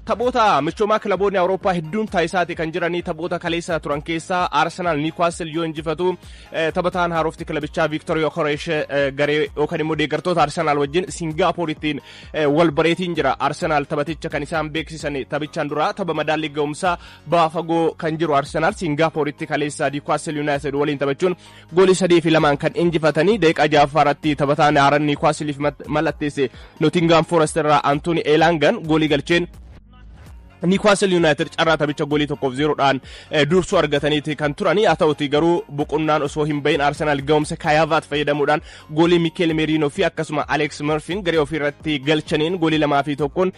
Taphoota michoomaa kilaboonni Awurooppaa hedduun taasisaati kan jiranii taphoota kaleessa turan keessaa Arsenaal Niwkaastil yoo injifatu taphataan haarofti kilabichaa Viiktor Yokoreesh garee yookaan immoo deeggartoota Arsenaal wajjin Singaapooritiin wal bareetiin jira. Arsenaal taphaticha kan isaan beeksisan taphichaan duraa tapha madaallii ga'umsaa baafagoo kan jiru Arsenaal Singaapooritti kaleessa Niwkaastil Yuunaayitid waliin taphachuun Goolii sadii fi lamaan kan injifatanii daqiiqaa ja'affaa irratti taphataa Naaran Niwukaasiliif mallatteesse Nootingaam Forest irraa Antooni Eelaangan goolii galcheen Niwukaasel Yuunaayitid carraa taphicha goolii tokkoof zeeroodhaan dursuu argataniiti kan turani haa ta'uti garuu boqonnaan osoo hin bahin Arsenaal ga'umsa Kaayaavaat fayyadamuudhaan goolii Mikeel Meeriinoo fi akkasuma Aleeks Marfiin garee ofii irratti galchaniin goolii lamaa fi tokkoon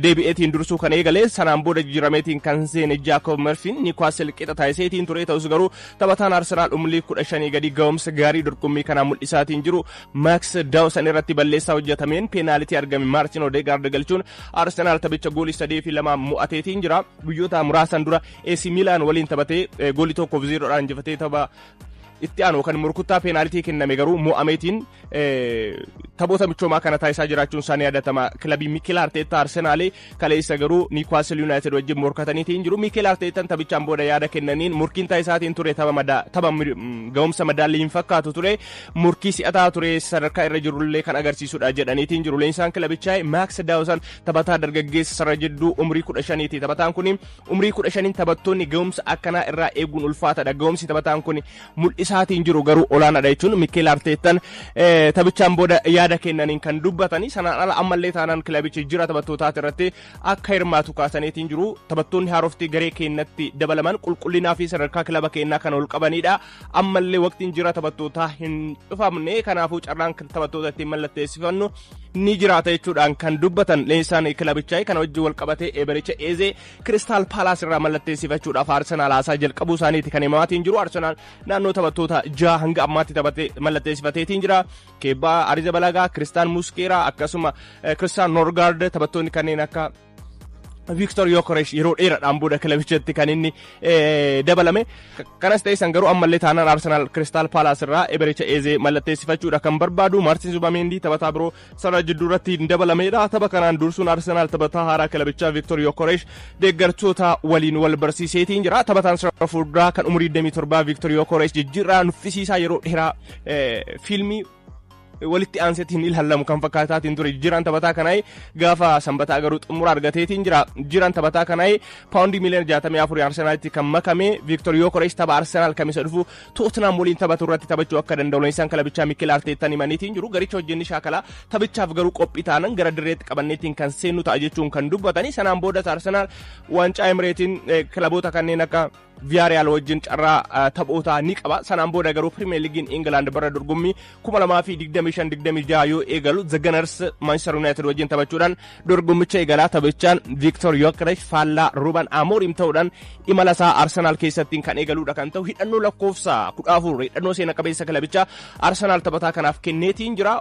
deebi'eetiin dursuu kan eegale sanaan booda jijjiirameetiin kan seene Jaakoob Marfiin Niwukaasel qixa taasiseetiin ture ta'us garuu Taphataan Arsenaal umrii kudha shanii gadi ga'umsa gaarii dorgommii kanaa mul'isaatiin jiru Max Dawson irratti balleessaa hojjetameen peenaalitii argame Maartin Odeegaard galchuun Arsenaal taphicha goolii sadii fi lamaan mo'ateetiin jira. Guyyoota muraasan dura AC Milan waliin taphatee eh, goolii tokkoof zeeroodhaan injifatee tapha itti aanu kan murkuttaa peenaalitii kenname garuu mo'ameetiin eh, taphoota michoomaa kana taasisaa jiraachuun isaanii yaadatama kilabii Mikel Arteettaa Arsenaalee Kaleessa garuu Niwkaastil Yuunaayitid wajjin morkataniiti hin jiru. Miikeel Arteetan taphichaan booda yaada kennaniin morkiin taasisaatiin ture tapha ga'umsa madaallii hin fakkaatu ture. Morkii si'ataa ture sadarkaa irra jirullee kan agarsiisudha jedhaniiti hin jiru. Leenjisaan kilabichaa Maaks Daawusan taphataa dargaggeessa sarara jidduu umrii kudha shaniiti. Taphataan kun umrii kudha shaniin taphattoonni ga'umsa akkanaa irraa eeguun ulfaatadha. Ga'umsi taphataan kun mul'isaatiin jiru garuu olaanaadha jechuun Mikkeel Arteettan taphichaan booda yaada kennaniin kan dubbatanii sanaan ala ammallee taanaan kilabichi jira taphattootaati irratti akka hirmaatu kaasaniitiin jiru taphattoonni haarofti garee keenyatti dabalaman qulqullinaa fi sadarkaa kilaba keenyaa kan ol qabanidha ammallee waqtiin jira taphattootaa hin dhufamne kanaafuu carraan taphattoota ittiin mallatteessifannu ni jiraata jechuudhaan kan dubbatan leenjisaan kilabichaa kana wajjin wal qabatee eebericha eezee Kiristaal Paalaas irraa mallatteessifachuudhaaf Arsenaal haasaa jalqabuu isaaniiti kan himamaatiin jiru. Arsenaal naannoo taphattoota jaha hanga ammaatti mallatteessifateetiin jira. Keebbaa Ariza Balagaa, Kiristaan Muskeeraa akkasuma Kiristaan Norgaard taphattoonni kanneen akka Viiktor Yokoresh yeroo dheeraadhaan booda kilabichatti kan inni dabalame. Kanas ta'e san garuu ammallee taanaan Arsenaal Kiristaal Paalaas irraa Ebericha Eezee mallatteessifachuudha kan barbaadu. Maartin Zubameendi taphataa biroo sana jidduurratti hin dabalameedha. Tapha kanaan dursuun Arsenaal taphataa haaraa kilabichaa Viktor Yokoresh deeggartoota waliin wal barsiiseetiin jira. Taphataan sarara fuulduraa kan umurii 27 Viktor Yokoresh jijjiirraa nuffisiisaa yeroo dheeraa fiilmii walitti aansetti hin ilaalamu kan fakkaataatiin ture jijjiiraan taphataa kanaa gaafa sanbataa garuu xumura argateetiin jira jijjiiraan taphataa kanaa paawundii miiliyoona 64 arsenaalitti kan makame viiktor yookorees tapha arsenaal kamisa dhufu Tootinam waliin taphatu irratti taphachuu akka danda'u leenjisaan kilabichaa Mikel Arteettaan himaniitiin jiru. Garicha hojjenni shaakalaa taphichaaf garuu qophii taanan gara dirreetti qabanneetiin kan seennu ta'a jechuun kan dubbatanii sanaan boodas Arsenaal waancaa Emireetiin kilaboota kanneen akka Viyaariyaal wajjin carraa taphootaa ni qaba. Sanaan booda garuu Pirimeer Liigiin Ingilaand bara dorgommii 2025 26 yoo eegalu The Gunners Manchester United wajjin taphachuudhaan dorgommicha eegalaa taphachaan Victor Yokeresh faallaa Ruben Amorim ta'uudhaan imala isaa Arsenal keessattiin kan eegaluudha kan ta'u hidhannoo lakkoofsa 14 hidhannoo seena qabeessa kilabichaa Arsenal taphataa kanaaf kenneetiin jira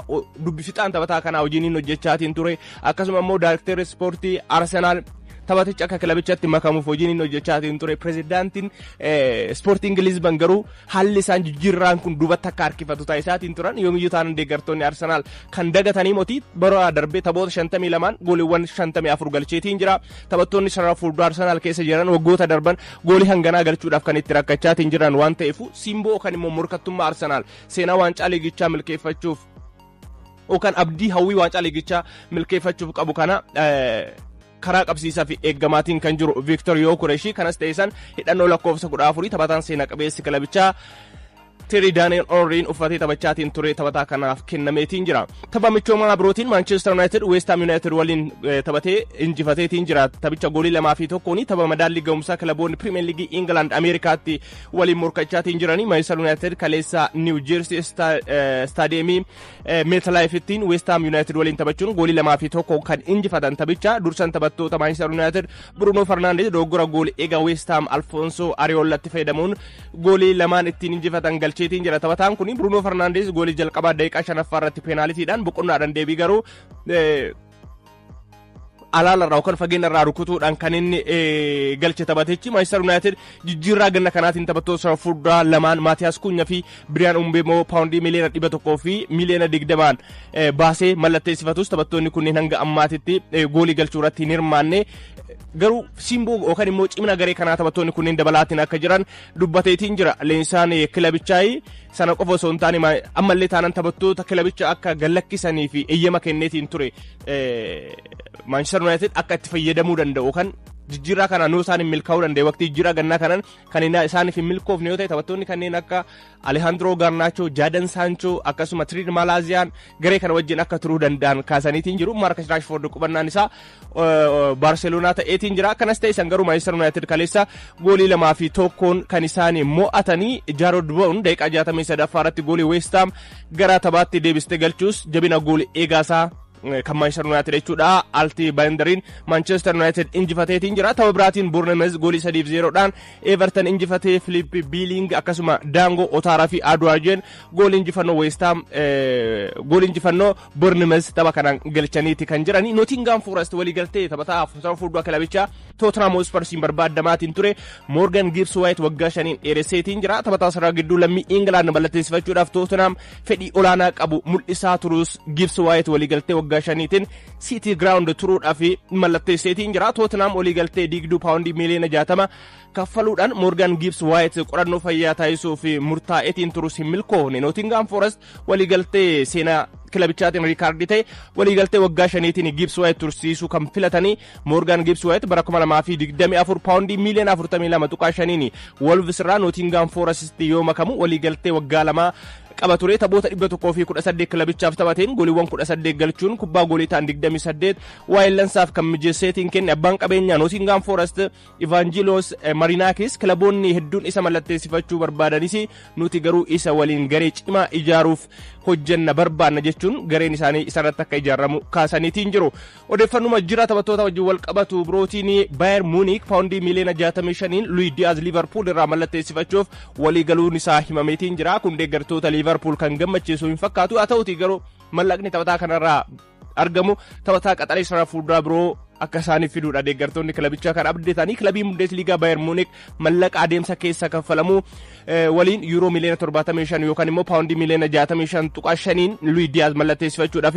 dubbifixaan taphataa kanaa hojiin hojjechaatiin ture akkasuma immoo daayrekteerri ispoortii Arsenal taphaticha akka kilabichatti makamuuf hojiin inni hojjechaatiin ture pirezidaantiin ispoortii ingiliizban garuu Haalli isaan jijjiirraan kun duubatti akka harkifatu taasisaatiin turan yoomiyyuu taanan deeggartoonni Arsenaal kan dagatanii moti bara darbee taphoota 52 gooliiwwan 54 galcheetiin jira. Taphattoonni sarara fuuldura Arsenaal keessa jiran waggoota darban goolii hanganaa galchuudhaaf kan itti rakkachaatiin jiran waan ta'eef simboo kan immoo morkattummaa Arsenaal seenaa waancaa liigichaa milkeeffachuuf yookaan abdii hawwii waancaa liigichaa milkeeffachuuf qabu kana karaa qabsiisaa fi eeggamaatiin kan jiru Viiktor Yookureeshii kanas ta'e san hidhannoo lakkoofsa kudha afurii taphataan seenaa qabeessi kilabichaa Teeri Daani'el Onriin uffatee taphachaatiin ture taphataa kanaaf kennameetiin jira. Tapha michoomaa birootiin Maanchester Yuunaayitid Weestaam Yuunaayitid waliin taphatee injifateetiin jira. Taphicha goolii lamaa fi tokkoon tapha madaallii ga'umsaa kilaboonni Pirimeer Liigii Ingilaand Ameerikaatti waliin morkachaatiin jiranii Maanchester Yuunaayitid kaleessa Niiw Jeersii Istaadiyeemii Meetalaayifittiin Weestaam Yuunaayitid waliin taphachuun goolii lamaa fi tokko kan injifatan taphicha dursan taphattoota Maanchister Yuunaayitid Bruunoo Farnaandees dogoggora goolii egaa Weestaam Alfoonsoo Ariyoollatti fayyadamuun goolii lamaan ittiin injifatan galcheetiin jira taphataan kun Bruunoo Farnaandees goolii jalqabaa daqiiqaa shanaffaa irratti peenaalitiidhaan boqonnaadhaan deebii garuu alaalarraa yookaan fageenyarraa rukutuudhaan kan inni galche taphatichi Maayistar Yuunaayitid jijjiirraa ganna kanaatiin taphattoota sana furdaa lamaan Maatiyaas Kuunya fi Biriyaan Umbeemoo paawundii miliyoona dhibba tokkoo fi miliyoona digdamaan baasee mallatteessifatus taphattoonni kunneen hanga ammaatitti goolii galchuu irratti hin hirmaanne garuu simboo yookaan immoo cimina garee kanaa taphattoonni kunneen dabalaatiin akka jiran dubbateetiin jira leensaan kilabichaai sana qofa osoo hin taane ammallee taanan taphattoota kilabicha akka gallakkisanii fi eeyyama kenneetiin ture Manchester United akka itti fayyadamuu danda'u kan jijjiirraa kanaan yoo isaan hin milkaa'uu danda'e waqtii jijjiirraa gannaa kanaan kan isaan hin milkoofne yoo ta'e taphattoonni kanneen akka Alihaandiroo Gaarnaachoo, Jaadan Saanchoo akkasuma Tiriid Maalaaziyaan garee kana wajjin akka turuu danda'an kaasaniitiin jiru. Maarkas Raashfoord qubannaan isaa Baarseloonaa ta'eetiin jira. Kanas ta'e isaan garuu Maanchester Yuunaayitid kaleessa goolii lamaa fi tokkoon kan isaan mo'atanii Jaarod Boon daqiiqaa 63ffaa irratti goolii Weestaam gara taphaatti deebiste galchuus jabina goolii eegaasaa kan Manchester United jechuudha alti baayindariin Manchester United injifateetiin jira tapha biraatiin Bournemouth goolii 3-0 dhaan Everton injifatee Philip Biiling akkasuma Daangoo Otaaraa fi Aduwaajeen goolii injifannoo West Ham goolii injifannoo Bournemouth tapha kanaan galchaniiti kan jirani Nottingham Forest walii galtee taphataa afurtama fuuldura kilabichaa Tottenham Hotspursiin barbaadamaatiin ture Morgan Gibbs White waggaa shaniin dheeresseetiin jira taphataa sarara gidduu lammii England mallatteessifachuudhaaf Tottenham fedhii olaanaa qabu mul'isaa turuus Giibs Waayit waliigaltee waggaa shaniitiin Siitii Giraawundi turuudhaaf mallatteesseetiin jira. Tootinaam waliigaltee diigduu paawundii miiliyoona jaatama kaffaluudhaan Moorgaan Giibs Waayit qorannoo fayyaa taasisuuf murtaa'eetiin turus hin milkoofne. Nootingaam Forest waliigaltee seenaa kilabichaatiin riikaardii ta'e waliigaltee waggaa shaniitiin Giibs Waayit tursiisuu kan filatanii Moorgaan Gibbs White bara 2024 paawundii miiliyoona 42.5n Wolves irraa Nootingaam Foorasitti yoo makamu waliigaltee waggaa lamaa qaba ture taphoota 118 kilabichaaf taphateen goliiwwan 18 galchuun kubbaa goolii ta'an 28 waayillansaaf kan mijeesseetiin kenne abbaan qabeenyaa Nootingaam Foorast Ivaanjiloos Marinaakis kilaboonni hedduun isa mallatteessifachuu barbaadanis nuti garuu isa waliin garee cimaa ijaaruuf hojjenna barbaanna jechuun gareen isaanii isarratti akka ijaaramu kaasaniitiin jiru. Odeeffannuma jira taphattoota wajjin wal qabatu birootiin Bayer Munich paawundii miiliyoona 65n Luis Diaz Liverpool irraa mallatteessifachuuf walii galuun isaa himameetiin jira. Kun deeggartoota Liverpool kan gammachiisu hin fakkaatu. Haa ta'uutii garuu mallaqni taphataa kanarraa argamu taphataa qaxalee sarara fuulduraa biroo akka isaaniif fiduudha deeggartoonni kilabichaa kan abdatanii kilabii Bundesliigaa Bayer Munich mallaqa adeemsa keessa kaffalamu waliin yuuroo miiliyoona 75 yookaan immoo paawundii miiliyoona 65 tuqaa 5n Luis Diaz mallatteessifachuudhaaf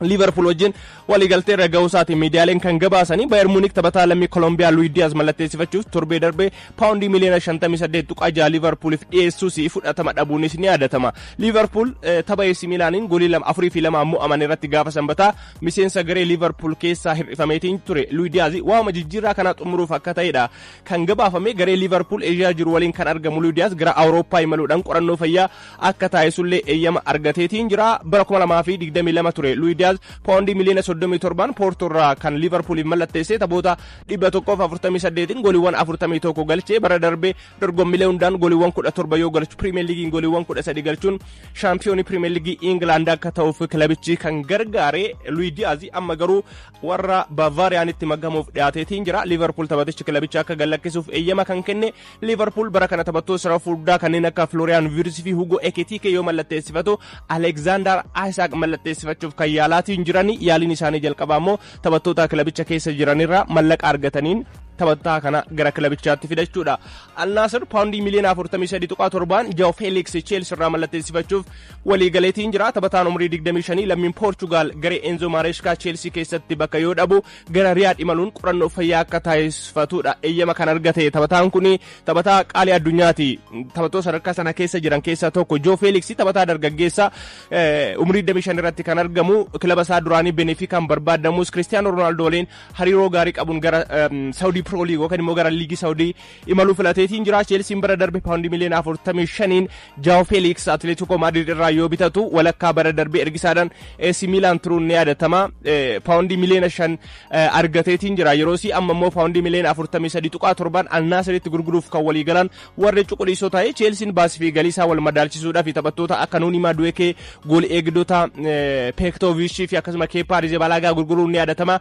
liivarpuul wajjin waliigaltee irra ga'uu isaatiin miidiyaaleen kan gabaasanii baayar muunik taphataa lammii kolombiyaa luwid diyaaz mallatteessifachuuf torbee darbee paawundii miliyoona 58.6 liivarpuuliif dhiyeessuus fudhatama dhabuunis ni yaadatama liivarpuul tapha eessi miilaaniin goolii lama afurii fi lama ammoo aman irratti gaafa sanbataa miseensa garee liivarpuul keessaa hir'ifameetiin ture luwid diyaaz waama jijjiirraa kana xumuruuf akka ta'edha kan gabaafame garee liivarpuul eeshiyaa jiru waliin kan argamu luwid diyaaz gara awurooppaa imaluudhaan qorannoo fayyaa akka taasisullee eeyyama argateetiin jira. Bara 2022 ture Luis Diaz paawundii miliyoona 37n Poortoo irraa kan Liivarpuuliif mallatteessee taphoota 148n goliiwwan 41 galchee bara darbee dorgommilee hundaan goliiwwan 17 yoo galchu Piriimiyeer Liigiin goliiwwan 13 galchuun shaampiyoonii Piriimiyeer Liigii Ingilaand akka ta'uuf kilabichi kan gargaare Luis Diaz amma garuu warra Bavaariyaanitti makamuuf dhiyaateetiin jira. Liivarpuul taphatichi kilabicha akka gallakkisuuf eeyyama kan kenne Liivarpuul bara kana taphattoota sarara fuulduraa kanneen akka Florian Wirtz fi Hugo Ekitike yoo mallatteessifatu Alexander Isaac mallatteessifachuuf kan yaalaatiin jiran yaaliin isaanii jalqabaa immoo taphattoota kilabicha keessa jiranirraa mallaqa argataniin taphataa kana gara kilabichaatti fidachuudha. Alnaasir paawundii miliyoona 43.7 Jao Felix Chelsea irraa mallatteessifachuuf waliigaleetiin jira. Taphataan umrii 25 lammiin Poorchugaal garee Enzo Maresca Chelsea keessatti bakka yoo dhabu gara Riyaad imaluun qorannoo fayyaa akka taasifatuudha eeyyama kan argate taphataan kun taphataa qaalii addunyaati taphattoota sadarkaa sana keessa jiran keessaa tokko Joo Feeliksi taphataa dargaggeessa umrii 25 irratti kan argamu kilaba isaa duraanii Benefikaan barbaadamus Kiristiyaanoo Roonaaldoo waliin hariiroo gaarii qabuun gara Saawudii Piroo Liigii yookaan immoo gara Liigii Saawudii imalu filateetiin jira. Cheelsiin bara darbe paawundii miliyoona 45n Jaawo Feeliiks Atileetikoo Maadrid irraa yoo bitatu walakkaa bara darbe ergisaadhaan AC Miilaan turuun ni yaadatama. Paawundii miliyoona 5 argateetiin jira. Yeroosii amma immoo paawundii miliyoona 43.7 Alnaasiritti gurguruuf kan walii galan warri cuquliisoo ta'e Cheelsiin baasii fi galii isaa wal madaalchisuudhaaf taphattoota akka Nuunii Maaduweekee gool eegdota Peektooviishii fi akkasuma Keepaa Rizebalaagaa gurguruun ni yaadatama.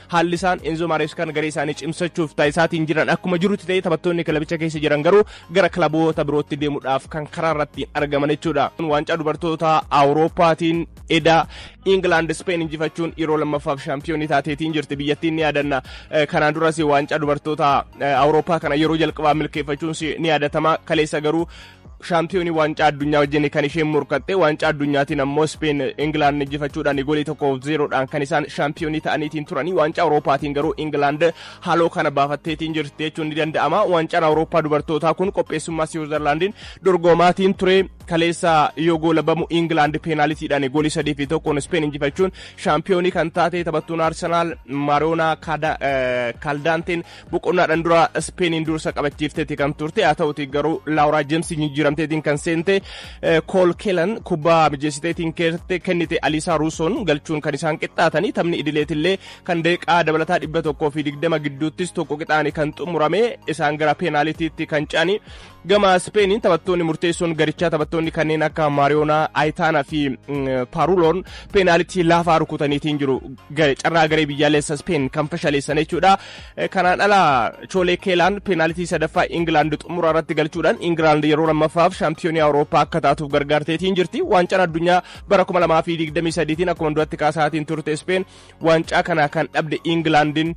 Haalli isaan Enzo Mareskaan garee isaanii cimsachuuf taasisaatiin jiran akkuma jirutti ta'ee taphattoonni kilabicha keessa jiran garuu gara kilaboota birootti deemuudhaaf kan karaa irratti argaman jechuudha. Waancaa dubartootaa Awurooppaatiin edaa Ingilaand Ispeen injifachuun yeroo lammaffaaf shaampiyoonii taateetiin jirti biyyattiin ni yaadanna. Kanaan duras waancaa dubartootaa Awurooppaa kana yeroo jalqabaa milkeeffachuun ni yaadatama. Kaleessa garuu shaampiyoonii waancaa addunyaa wajjin kan isheen morkatte waancaa addunyaatiin ammoo Speen Ingilaand injifachuudhaan goolii tokkoof zeeroodhaan kan isaan shaampiyoonii ta'aniitiin turanii waancaa Awurooppaatiin garuu Ingilaand haaloo kana baafatteetiin jirti jechuun ni danda'ama waancaan Awurooppaa dubartootaa kun qopheessummaa Siwiizerlaandiin dorgomaatiin ture kaleessa yoo goolabamu Ingilaand peenaalitiidhaan goolii sadii fi tokkoon Speen injifachuun shaampiyoonii kan taate taphattuun Arsenaal Maariyoonaa Kaaldaanteen boqonnaadhaan dura Ispeeniin dursa qabachiifteeti kan turte haa ta'uti garuu Laawuraa Jeemsii jijjiiramteetiin kan seente Kool Keelan kubbaa mijeessiteetiin kennite Aliisaa Ruusoon galchuun kan isaan qixxaatanii taphni idileetillee kan daqiiqaa dabalataa dhibba tokkoo fi digdama gidduuttis tokko qixaani kan xumurame isaan gara peenaalitiitti kan ce'anii Gama Ispeeniin taphattoonni murteessoon garichaa taphattoonni kanneen akka Maariyoonaa, Ayitaanaa fi Paaruloon peenaalitii laafaa rukutaniitiin jiru. Carraa garee biyyaalessa Ispeen kan fashaleessan jechuudha. Kanaan ala Choolee Keelaan peenaalitii sadaffaa Ingilaand xumura irratti galchuudhaan Ingilaand yeroo lammaffaaf shaampiyoonii Awurooppaa akka taatuuf gargaarteetiin jirti. Waancaan addunyaa bara 2023tiin akkuma duratti kaasaatiin turte Ispeen waancaa kana kan dhabde Ingilaandiin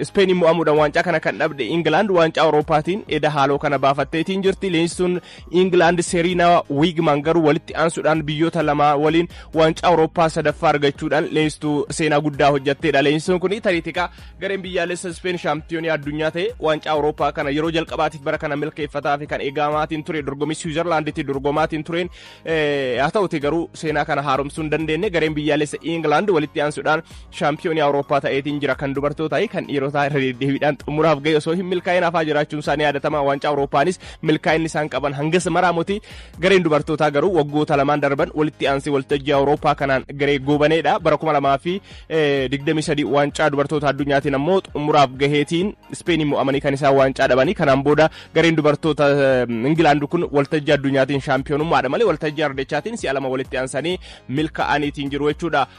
Ispeeniin mo'amuudhaan waancaa kana kan dhabde Ingilaand waancaa Awurooppaatiin eda haaloo kana baafatteetiin jirti. Leenjistuun Ingilaand Seriinaa Wiigman garuu walitti aansuudhaan biyyoota lamaa waliin waancaa Awurooppaa sadaffaa argachuudhaan leenjistuu seenaa guddaa hojjetteedha. Leenjistuun kun tariitika gareen biyyaalessa Ispeen shaampiyoonii addunyaa ta'e waancaa Awurooppaa kana yeroo jalqabaatiif bara kana milkeeffataa fi kan eegamaatiin ture dorgommii Siwiizerlaanditti dorgomaatiin tureen Eh, haa ta'uti garuu seenaa kana haaromsuu hin dandeenye gareen biyyaalessa Ingilaand walitti aansuudhaan shaampiyoonii Awurooppaa ta'eetiin jira kan dubartootaa fi kan dhiirotaa irra deddeebiidhaan xumuraaf ga'e osoo hin milkaa'in hafaa jiraachuun isaa ni yaadatama waancaa Awurooppaanis milkaa'inni isaan qaban hangas maraamuti gareen dubartootaa garuu waggoota lamaan darban walitti aansee waltajjii Awurooppaa kanaan garee goobaneedha bara kuma lamaa fi digdamii sadii waancaa dubartoota addunyaatiin ammoo xumuraaf gaheetiin Ispeeniin mo'amanii kan isaan waancaa dhabanii kanaan booda gareen dubartoota Ingilaand kun waltajjii addunyaatiin shaampiyoonummaadha malee waltajjii ardechaatiin si'a lama walitti aansanii milkaa'aniitiin jiru jechuudha.